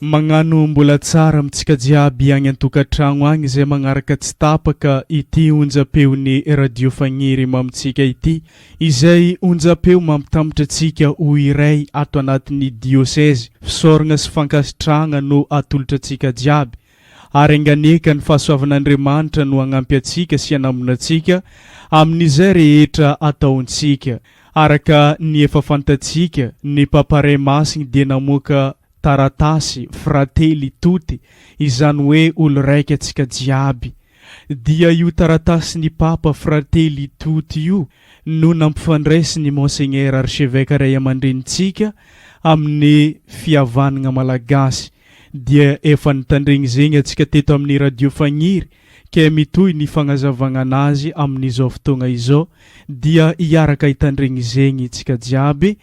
Magnano mbola tsara amintsika jiaby agny antokatragno agny izay magnaraka tsy tapaka ity onjam-peon'ny Radio Fagniry mamintsika ity izay onjam-peo mampitambatra antsika ho iray ato anatin'ny Diôsezy. Fisaoragna sy fankasitrahagna no atolotra antsika jiaby ary anganeka ny fahasoavan'Andriamanitra no hagnampy antsika sy hanamona antsika amin'izay rehetra ataontsika. Araka ny efa fantatsika, ny Papa Ray Masigny dia namoaka taratasy Fratelli Tutti, izany hoe Olo-raika antsika jiaby, dia io taratasin'ny Papa Fratelli Tutti io no nampifandraisin'ny Monseigneur Archevêque Ray aman-drenintsika amin'ny fihavanagna Malagasy, dia efa nitandregny zegny antsika teto amin'ny Radio Fagniry ke mitohy ny fagnazavagna anazy amin'izao fotoagna izao, dia hiaraka hitandregny zegny tsika jiaby,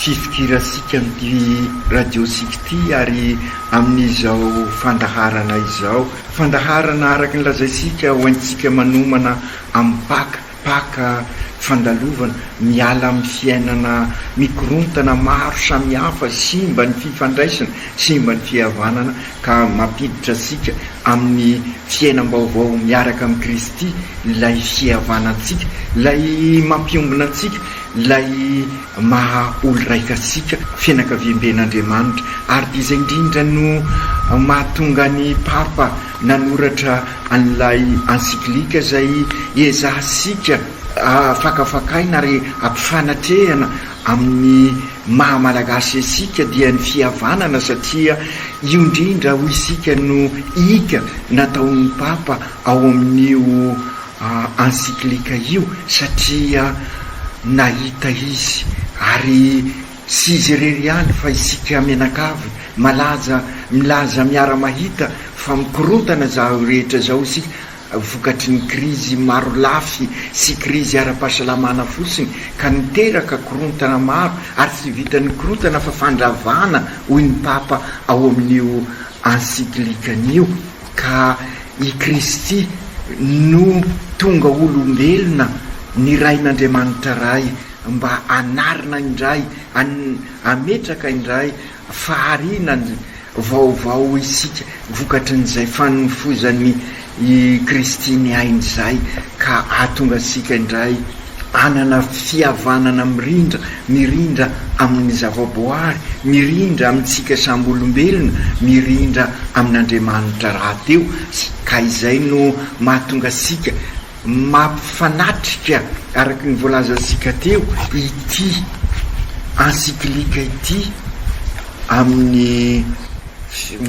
Fifikiransika amin'ity radiosika ity ary amin'izao fandaharana izao. Fandaharana araka ny lazaintsika ho haintsika manomana amin'ny Paka. Paka, fandalovana, miala amin'ny fiainana mikorontana maro samihafa, simba ny fifandraisana, simba ny fihavanana ka mampiditra antsika amin'ny fiainam-baovao miaraka amin'i Kristy, ilay fihavanantsika, ilay mampiombona antsika, ilay. maha olo-raika antsika, fianakaviamben'Andriamanitra, ary dia izay indrindra no mahatonga ny Papa nanoratra an'ilay encyclique izay ezahantsika fakafakaina ary ampifanatrehana amin'ny maha Malagasy antsika dia ny fihavanana satria io indrindra hoy isika no ika nataon'ny Papa ao amin'io encyclique io satria nahita izy ary tsy izy irery ihany fa isika mianakavy malaza milaza miara-mahita fa mikorontana izao rehetra izao isika vokatry ny krizy marolafy sy krizy ara-pahasalamana fotsiny ka niteraka korontana maro ary tsy vitan'ny korontana fa fandravana hoy ny Papa ao amin'io encyclique-ny io. Ka i Kristy no tonga olombelona nirahin'Andriamanitra Ray mba hanarina indray, hametraka indray fahariana vaovao isika vokatry n'izay fanofozan'i Kristy ny ainy izay ka hahatonga antsika indray Hanana fihavanana mirindra, mirindra amin'ny zavaboary, mirindra amintsika samy olombelona, mirindra amin'Andriamanitra rahateo, ka izay no mahatonga antsika mampifanatrika araka ny voalazantsika teo ity encyclique ity amin'ny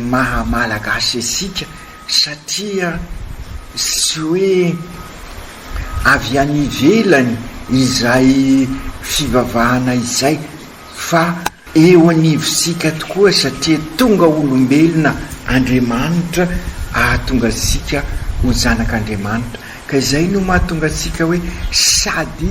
maha Malagasy antsika. Satria tsy hoe avy any ivelany izay fivavahana izay fa eo anivontsika tokoa satria tonga olombelona Andriamanitra ahatonga antsika ho zanak'Andriamanitra ka izay no mahatonga antsika hoe sady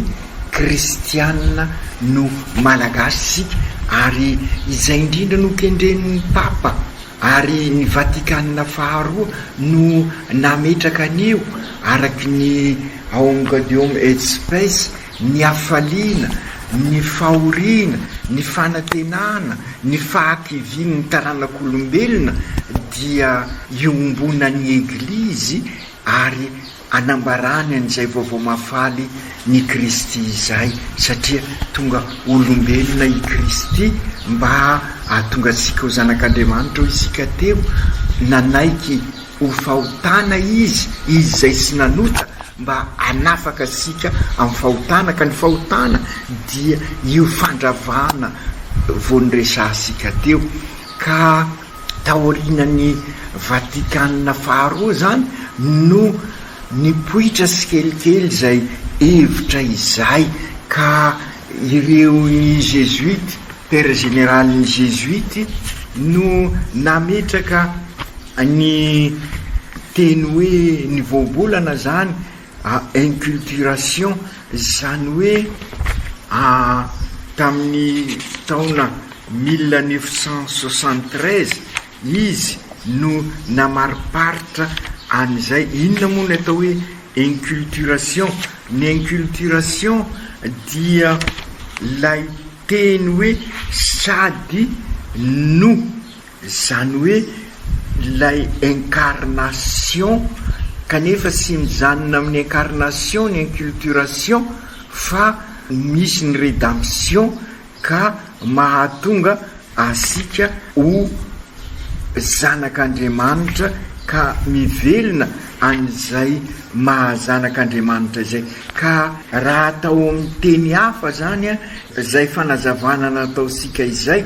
kristiana no malagasy isika ary izay indrindra no kendren'ny Papa ary ny Vatikana faharoa no nametraka an'io araka ny Aumgaudeum et Spes, ny hafaliana, ny fahoriana, ny fanantenana, ny fahakivian'ny taranak'olombelona dia iombonan'ny Eglizy ary Anambarany an'izay vaovao mahafaly ny Kristy izay, satria tonga olombelona i Kristy mba hahatonga antsika ho zanak'Andriamanitra. Hoy isika teo, Nanaiky ho fahotana Izy, Izy izay tsy nanota, mba hanafaka antsika amin'ny fahotana. Ka ny fahotana dia io fandravana vao noresahantsika teo. Ka. taorianan'ny Vatikana faharoa izany no nipoitra tsikelikely izay hevitra izay ka ireo ny Zezuity, Père Général ny Zezuity no nametraka ny teny hoe ny voambolana izany à inculturation izany hoe tamin'ny taona mille neuf cent soixante treize izy no namariparitra an'izay, inona moa no atao hoe inculturation? ny inculturation dia ilay teny hoe sady no. Izany hoe ilay incarnation kanefa tsy mijanona amin'ny incarnation ny inculturation fa misy ny redemption ka mahatonga asika ho zanak'Andriamanitra ka mivelona an'izay maha zanak'Andriamanitra izay. Ka raha atao amin'ny teny hafa izany izay fanazavana nataontsika izay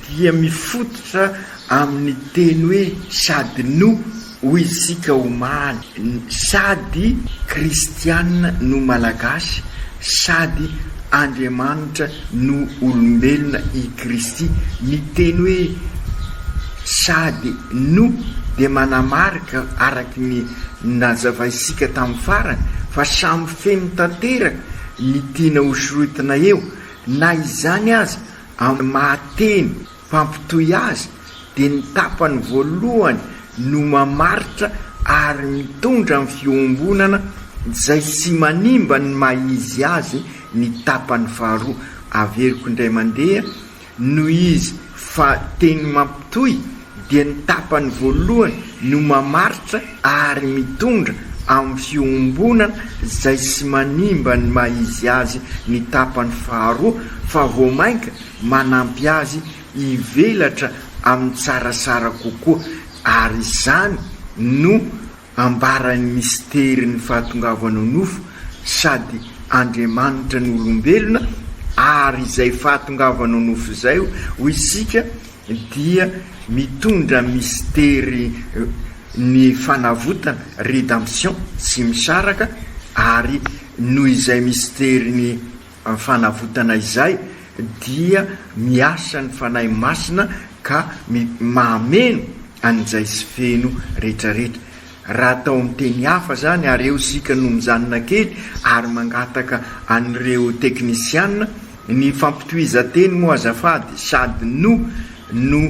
dia mifototra amin' ny teny hoe sady no, hoy isika omaly, sady kristiana no malagasy, sady Andriamanitra no olombelona i Kristy. Ny teny hoe sady no dia manamarika, araka ny nazavaintsika tamin'ny farany, fa samy feno tanteraka ny tiana hosorotina eo. Na izany aza, Amin'ny maha teny mpampitohy azy dia ny tapany voalohany no mamaritra ary mitondra ny fiombonana izay tsy manimba ny maha izy azy ny tapany faharoa averiko indray mandeha noho izy fa teny mampitohy dia ny tapany voalohany no mamaritra ary mitondra amin'ny fiombonana izay tsy manimba ny maha izy azy ny tapany faharoa fa vao mainka manampy azy hivelatra amin'ny tsaratsara kokoa ary izany no Ambaran'ny misterin'ny fahatongavanao nofo sady Andriamanitra no olombelona, ary izay fahatongavanao nofo izay ho isika dia mitondra mistery ny fanavotana, redemption, tsy misaraka, ary noho izay mistery ny. Amin'ny fanavotana izay dia miasa ny Fanahy Masina ka mahameno an'izay tsy feno retraretra. Raha atao amin'ny teny hafa izany, areo isika no mijanona kely ary mangataka an'ireo teknisiana, ny fampitohizan-teny moa azafady sady no no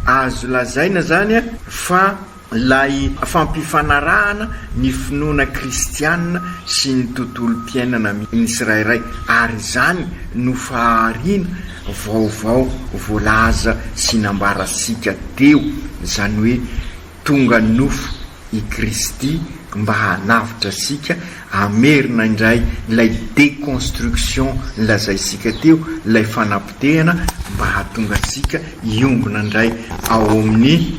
azo lazaina izany fa ilay fampifanarahana ny finoana kristiana sy ny tontolom-piainana amin'ny tsirairay, ary izany no fahariana vaovao voalaza sy nambarantsika teo, izany hoe tonga nofo i Kristy mba hanavotra antsika, hamerina indray ilay déconstruction nolazaintsika teo, ilay fanapotehana mba hahatonga antsika hiombona indray ao amin'ny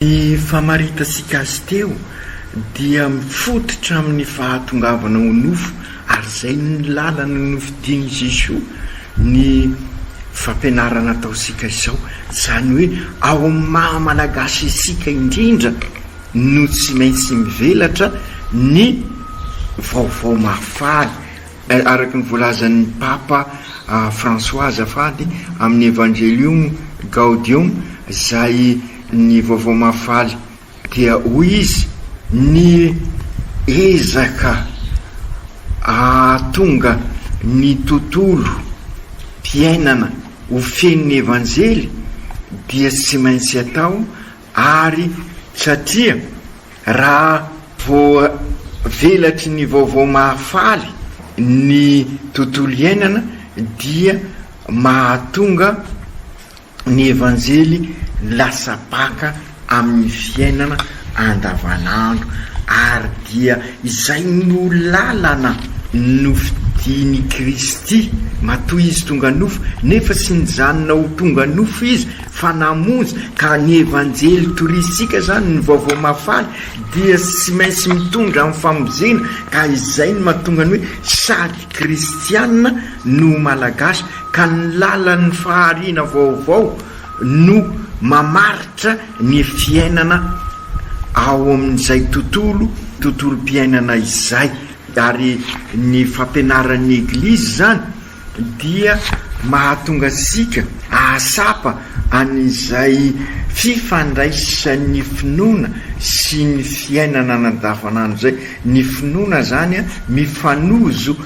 Ny famaritasika azy teo dia mifototra amin'ny fahatongavana ho nofo ary izay ny lalana nofidin'i Jesoa ny fampianarana ataontsika izao, izany hoe ao amin'ny maha Malagasy antsika indrindra no tsy maintsy mivelatra ny vaovao mahafaly. Araka ny voalazan'ny Papa François azafady amin'ny Evangelium Gaudium izay ny Vaovao Mahafaly dia hoy izy, ny ezaka ahatonga ny tontolo fiainana ho fenon'ny Evanjely dia tsy maintsy atao Ary satria raha voavelatry ny vaovao mahafaly ny tontolo iainana dia mahatonga ny Evanjely lasa baka amin'ny fiainana andavanandro ary dia izay no lalana nofidian'i Kristy matoa Izy tonga nofo nefa tsy nijanona ho tonga nofo Izy fa namonjy ka ny evanjely torisika zany ny vaovao mahafaly dia tsy maintsy mitondra amin'ny famonjena ka izay no mahatonga ny hoe sady kristiana no malagasy ka ny lalan'ny fahariana vaovao no mamaritra ny fiainana ao amin'izay tontolo tontolom-piainana izay ary ny fampianaran'ny eglizy zany dia mahatonga antsika hahatsapa an'izay fifandraisan'ny finoana sy ny fiainana andavanandro izay. Ny finoana izany mifanojo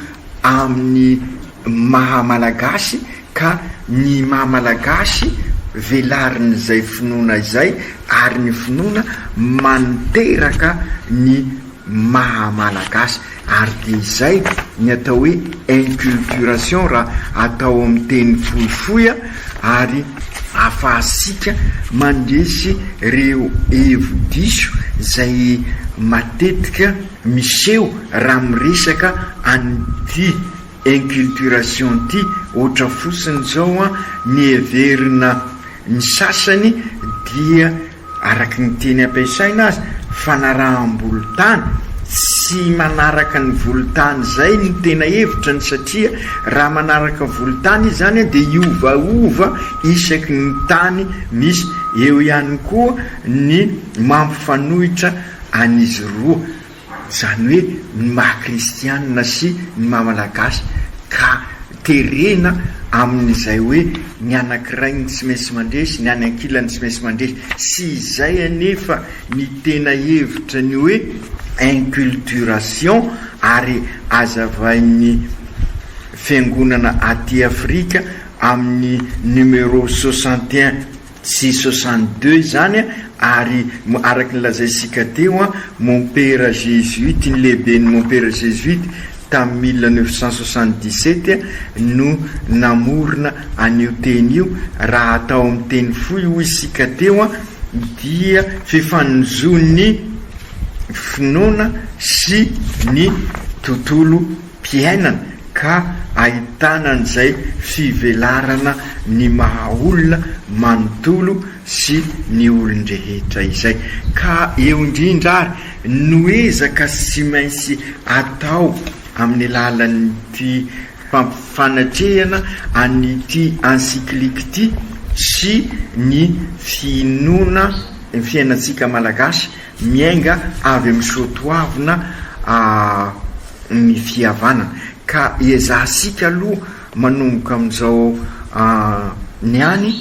amin'ny maha Malagasy ka ny maha Malagasy velarin'izay finoana izay ary ny finoana manteraka ny. maha Malagasy ary dia izay ny atao hoe inculturation raha atao amin'ny teny fohifohy ary afahantsika mandresy ireo hevi-diso izay matetika miseho raha miresaka an'ity inculturation ity ohatra fotsiny izao ny heverina ny sasany dia Araka ny teny ampiasaina aza, fanaraham-bolontany, tsy manaraka ny volontany izay no tena hevitra ny satria raha manaraka volontany izy izany dia hiovaova isaky ny tany misy, eo ihany koa ny mampifanohitra an'izy roa. izany hoe ny maha kristianina sy ny maha malagasy, ka terena amin'izay hoe ny anankiray no tsy maintsy mandresy, ny any ankilany tsy maintsy mandresy, sy izay anefa ny tena hevitra ny hoe inculturation, ary azavain'ny fiangonana aty Afrika amin'ny numéro soixante et un. Tsy soixante deux izany ary araka ny lazaintsika teo, mompera jesuite, ny lehiben'ny mompera jesuite tamin'ny mille neuf cent soixante dix sept no namorona an'io teny io, raha atao amin'ny teny fohy hoy isika teo dia fifanonjon'ny finoana sy ny tontolo. mpiainana ka ahitana an'izay fivelarana ny maha olona manontolo sy ny olon-drehetra izay, ka eo indrindra ary no ezaka sy maintsy atao amin'ny alalan'ity fampifanatrehana an'ity encyclique ity sy ny finoana fiainantsika Malagasy Miainga avy amin'ny soatoavina ny fihavanana, ka ezahasika aloha manomboka amin'izao niany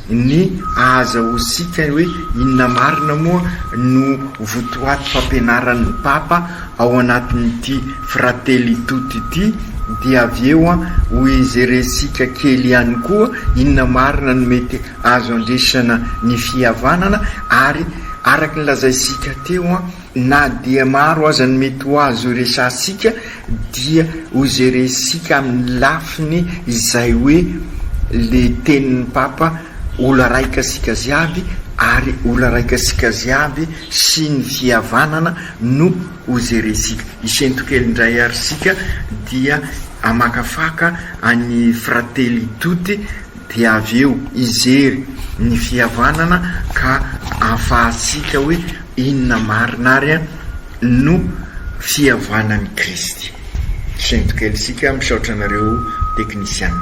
ny ahazahoantsika hoe inona marina moa no votoaty fampianaran'ny Papa ao anatin'ity Fratelli Tutti ity, dia avy eo ho jerentsika kely ihany koa inona marina no mety azo andresana ny fihavanana ary. Araka ny lazaintsika teo, na dia maro aza ny mety ho azo iresahantsika dia hojerentsika amin'ny lafiny izay hoe le tenin'ny Papa ola raika sika ziaby ary ola raika sika ziaby sy ny fihavanana no hojerentsika. Isento kely indray ary sika dia hamakafaka an'i Fratelli Tutti. dia avy eo hijery ny fihavanana ka hahafahantsika hoe inona marina ary no fihavanan'i Kristy. Sento kely isika, misaotra anareo teknisiana.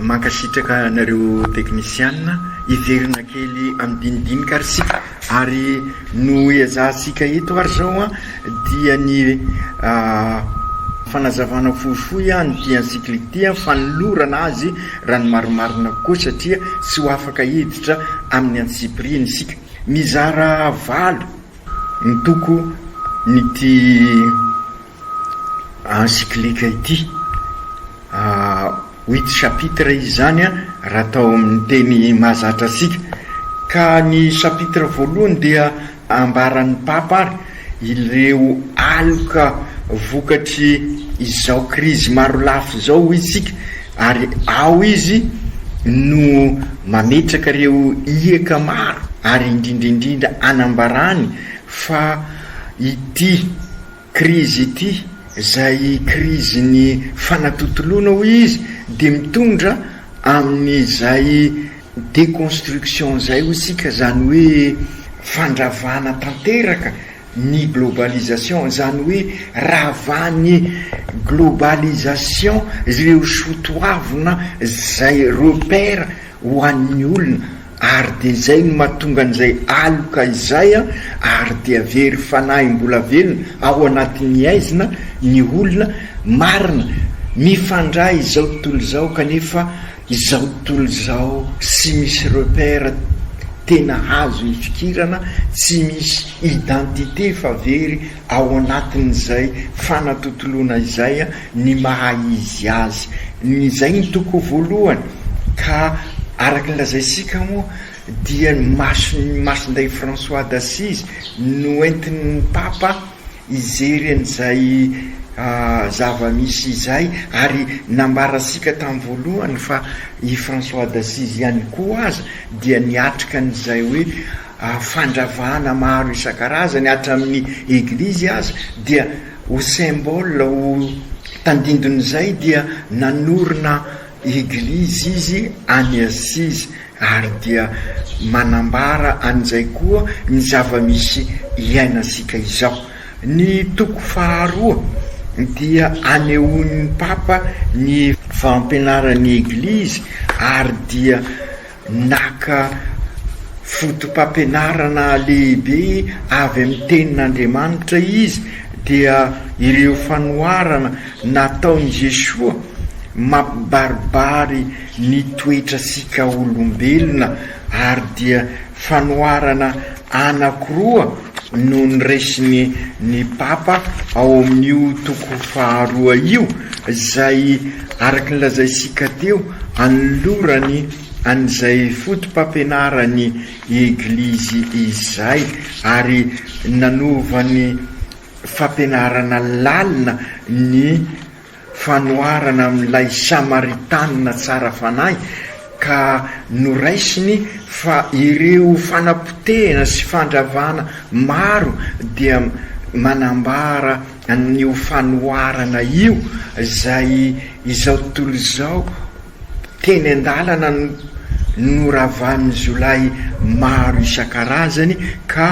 Mankasitraka anareo teknisiana. Hiverina kely amin'ny dinidinika ary isika, ary no ezahantsika eto ary izao an, dia ny fanazavana fohifohy an, ity encyclique ity an, fanolorana azy raha ny marimarina kokoa satria tsy ho afaka hiditra amin'ny antsipiriany isika. Mizara valo ny toko ny ity. encyclique ity. Huit chapitres izy izany raha atao amin'ny teny mahazatra antsika. Ka ny chapitre voalohany dia ambaran'ny Papa ary ireo aloka vokatry izao krizy marolafy izao hoy isika ary ao izy no mametraka ireo hiaka maro ary indrindra indrindra anambarany fa ity Krizy ity, izay krizin'ny fanatontoloana hoy izy, dia mitondra amin'izay déconstruction izay hoy isika, izany hoe fandravana tanteraka ny globalisation, izany hoe ravan'ny globalisation ireo soatoavina izay repère ho an'ny olona. ary dia izay no mahatonga an'izay aloka izay ary dia very fanahy mbola velona ao anatin'ny haizina ny olona marina mifandray izao tontolo izao kanefa izao tontolo izao tsy misy repère tena azo ifikirana tsy misy identité fa very ao anatin'izay fanatontoloana izay ny maha izy azy. Izay no toko voalohany. Ka araka ny lazaintsika moa dia ny mason'i Masindahy François d'Assise no entin'ny Papa hijery an'izay zava-misy izay ary nambarantsika tamin'ny voalohany fa i François d'Assise ihany koa aza dia niatrika an'izay hoe fandravana maro isan-karazany hatramin'ny eglizy aza dia ho symbole ho tandindon'izay dia nanorina eglizy izy any Assise ary dia manambara an'izay koa ny zava-misy iainantsika izao. Ny toko faharoa dia anehoan'ny Papa ny fampianaran'ny eglizy ary dia Naka fotopampianarana lehibe avy amin'ny Tenin'Andriamanitra izy, dia ireo fanoharana nataon'i Jesoa mampibaribary ny toetrantsika olombelona, ary dia fanoharana anankiroa, no noraisiny ny Papa ao amin'io toko faharoa io, izay araka ny lazaintsika teo, anolorany an'izay foto-pampianaran'ny Eglizy izay, ary nanaovany fampianarana lalina ny. fanoharana amin'ilay Samaritanina tsara fanahy ka noraisiny fa ireo fanapotehana sy fandravana maro dia manambara an'io fanoharana io izay izao tontolo izao teny an-dalana noravan'ny jiolahy maro isan-karazany ka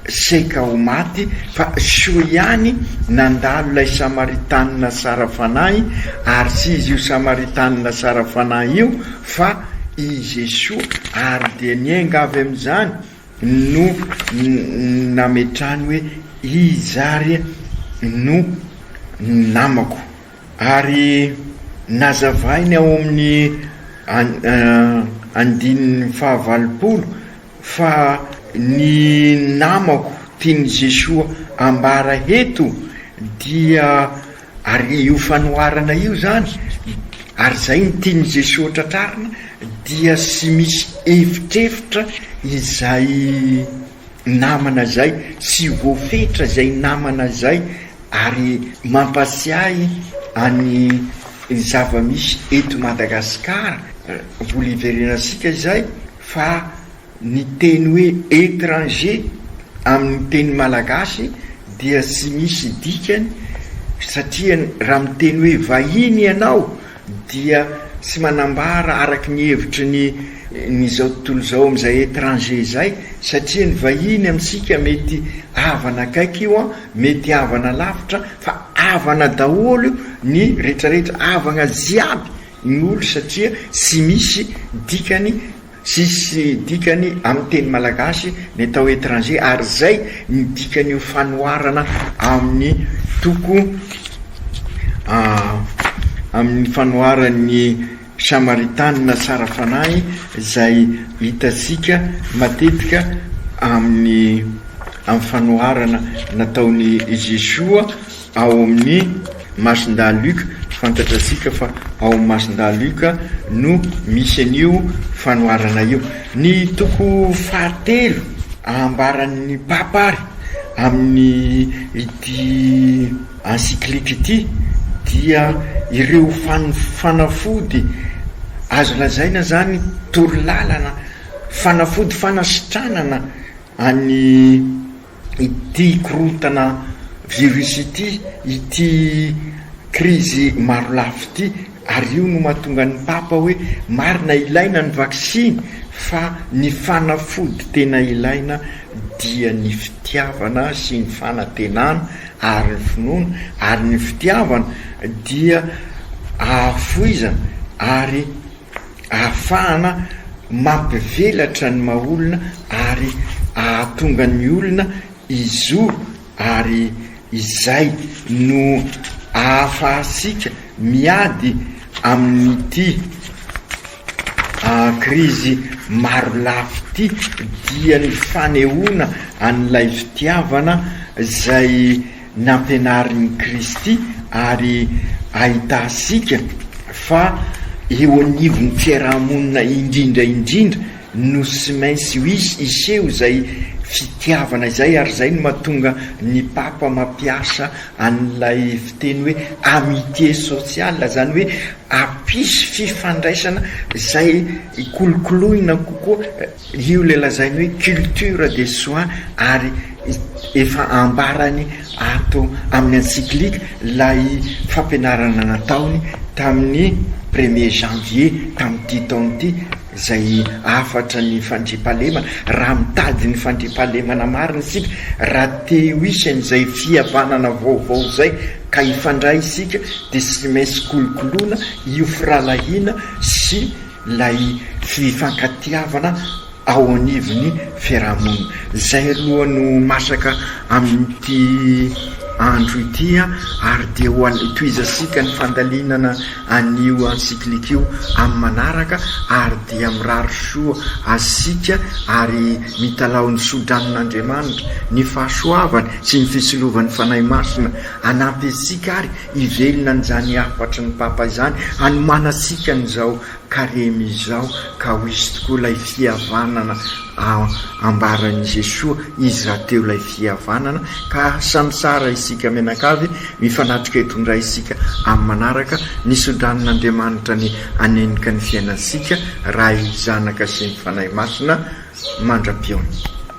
Saika ho maty, fa soa ihany nandalo ilay Samaritanina sara fanahy, ary tsy izy io Samaritanina sara fanahy io fa i Jesoa, ary dia nienga avy amin'izany no nametrahany hoe, Iza ary no namako? Ary nazavainy ao amin'ny andininy fahavalopolo. Fa ny namako tian'i Jesoa ambara eto dia ary io fanoharana io zany ary zay ny tian'i Jesoa tratrarina dia sy misy evitrevitra izay namana zay sy voafetra zay namana zay ary mampasiahy any zavamisy eto Madagasikara vola iverenantsika zay Fa ny teny hoe étranger amin'ny teny malagasy dia tsy misy dikany satria raha miteny hoe vahiny ianao dia tsy manambara araky ny hevitry ny ny izao tontolo izao amin'izay étranger izay satria ny vahiny amintsika mety havana akaiky io an, mety havana lavitra fa havana daholo io ny retraretra, havagna jiaby. ny olo satria tsy misy dikany tsisy dikany amin'ny teny malagasy ny atao étranger ary zay ny dikan'io fanoharana amin'ny toko amin'ny fanoharan'ny samaritanina tsara fanahy zay hitantsika matetika amin'ny amin'ny fanoharana nataon'i Jesoa Ao amin'ny masindahy Luka, fantatratsika fa ao amin'ny masindahy Luka no misy an'io fanoharana io. Ny toko fahatelo ambaran'ny Papa àry amin'ity encyclique ity dia ireo fanafody azo lazaina izany toro lalana, fanafody fanasitranana an'i. ity korontana virus ity, ity krizy marolafy ity ary io no mahatonga ny Papa hoe marina ilaina ny vaksiny fa ny fanafody tena ilaina dia ny fitiavana sy ny fanantenana ary ny finoana ary ny fitiavana dia ahafoizana ary ahafahana mampivelatra ny maha olona ary ahatonga ny olona hizoro ary izay no ahafahantsika miady amin'ity krizy marolafy ity dia ny fanehoana an'ilay fitiavana izay nampianarin'i Kristy ary ahitantsika fa eo anivon'ny fiaraha-monina indrindra indrindra no tsy maintsy hiseho izay fitiavana izay ary izay no mahatonga ny Papa mampiasa an'ilay fiteny hoe amitié sociale izany hoe hampisy fifandraisana izay hikolokoloina kokoa Io ilay lazainy hoe culture des soins ary efa ambarany ato amin'ny encyclique ilay fampianarana nataony tamin'ny premier janvier tamin'ity taona ity izay hafatra ny fandriampahalemana. Raha mitady ny fandriampahalemana marina isika, raha te ho hisy an'izay fihavanana vaovao izay ka hifandray isika dia tsy maintsy kolokoloina io firahalahiana sy ilay fifankatiavana ao anivon'ny fiarahamonina. Izay aloha no masaka amin'ity andro ity ary dia ho an'ny tohizantsika ny fandalinana an'io encyclique io amin'ny manaraka ary dia mirary soa asika ary mitalaho ny sodranon'Andriamanitra, ny fahasoavany sy ny fitsilovany Fanahy Masina hanampy antsika ary Hivelona an'izany hafatry ny Papa izany hanomanantsika an'izao Karemy izao ka ho hisy tokoa ilay fihavanana ambaran'i Jesoa, Izy rahateo ilay fihavanana ka asa mitsara isika mianakavy, mifanatrika eto indray isika amin'ny manaraka, ny sodranin'Andriamanitra ny hanenjka ny fiainantsika, Ray, Zanaka sy ny Fanahy Masina mandra-pihaona.